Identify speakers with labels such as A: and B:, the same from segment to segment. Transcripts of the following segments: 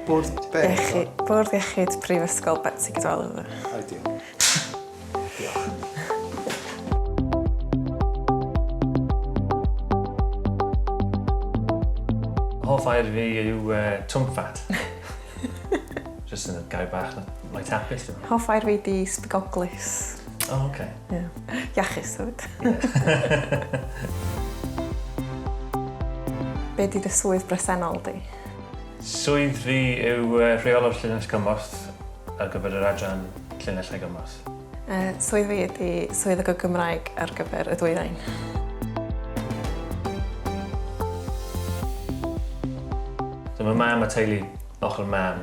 A: Bwrdd be? Iechyd, Bwrdd Iechyd
B: Prifysgol Betsi Cadwaladr. Ideal. Diolch.
C: Hoff air fi yw uh, twmffat. Just yn y gair bach, like tapis. Hoff air fi di
B: sbigoglus. O, oh, oce.
C: Okay. Yeah. Iachus,
B: hefyd. Be di dy swydd bresennol di? Swydd
C: fi yw uh, rheolwr llinell gymorth ar gyfer yr adran llinell a gymorth. Uh, swydd fi
B: ydy swydd y Gymraeg ar gyfer y dwyrain.
C: Dyma mam a teulu ochr mam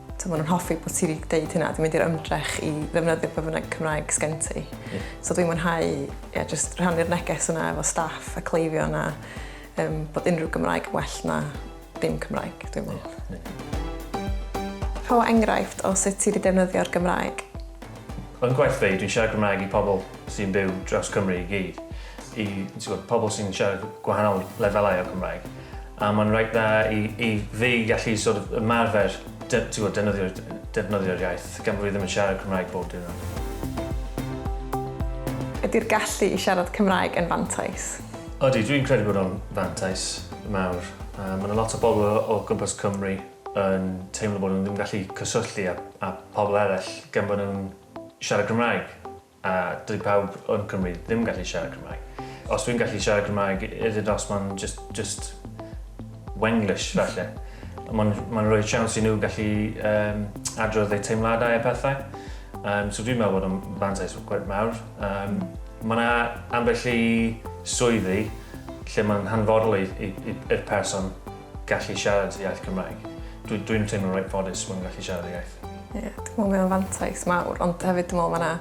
B: So maen nhw'n hoffi bod ti wedi dweud hynna, dwi'n mynd i'r ymdrech i ddefnyddio pe bynnag Cymraeg sgen ti. Yeah. So dwi'n mwynhau yeah, just rhannu'r neges yna efo staff a cleifion a um, bod unrhyw Gymraeg well na dim Cymraeg, dwi'n meddwl. Yeah. Yeah. Rho enghraifft o sut ti wedi defnyddio'r Gymraeg. Yn
C: gwaith fi, dwi'n siarad Gymraeg i pobl sy'n byw dros Cymru i gyd. I pobl sy'n siarad gwahanol lefelau o Gymraeg. A mae'n reit dda i i fi gallu sort of ymarfer de- t'wod defnyddio defnyddio'r iaith gan bo' fi ddim yn siarad Cymraeg bob diwrnod.
B: Ydi'r gallu i siarad Cymraeg yn fantais? Odi, dwi'n credu
C: bod o'n fantais mawr. Yy ma' 'na lot o bobl o o gwmpas Cymru yn teimlo bod nhw ddim yn gallu cyswllu â â pobl eraill gan bo' nhw'n siarad Cymraeg. A dyw pawb yn Cymru ddim gallu siarad Cymraeg. Os dwi'n gallu siarad Cymraeg, is it os mae'n just, just Wenglish falle. Mae'n ma rhoi siawns i nhw gallu um, adrodd eu teimladau a pethau. Um, so dwi'n meddwl bod o'n fantais gwaith mawr. Um, mae yna ambell i swyddi lle mae'n hanfodol i'r person gallu siarad iaith Cymraeg. Dwi dwi'n teimlo'n reit ffodus fod yn gallu siarad y iaith. Ie, yeah, dwi'n meddwl mae o'n
B: fantais mawr, ond hefyd dwi'n meddwl mae yna...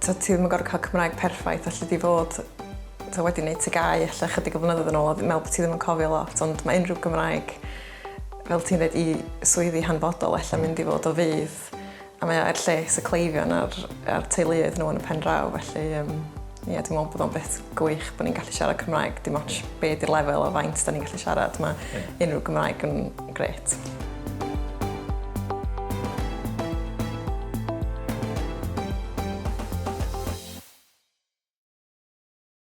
B: So, ti ddim yn gorfod cael Cymraeg perffaith, allu di fod so, wedi gwneud ti gau allu chydig o flynyddoedd yn ôl, dwi'n meddwl bod ti ddim yn cofio lot, ond mae unrhyw Gymraeg, fel ti'n dweud, i swyddi hanfodol allu mynd i fod o fydd A mae o er lles y cleifion a'r, a'r teuluoedd nhw yn y pen draw, felly um, ie, yeah, dwi'n meddwl bod o'n beth gwych bod ni'n gallu siarad Cymraeg, dim ond be di'r lefel o faint da ni'n gallu siarad, mae unrhyw Gymraeg yn gret.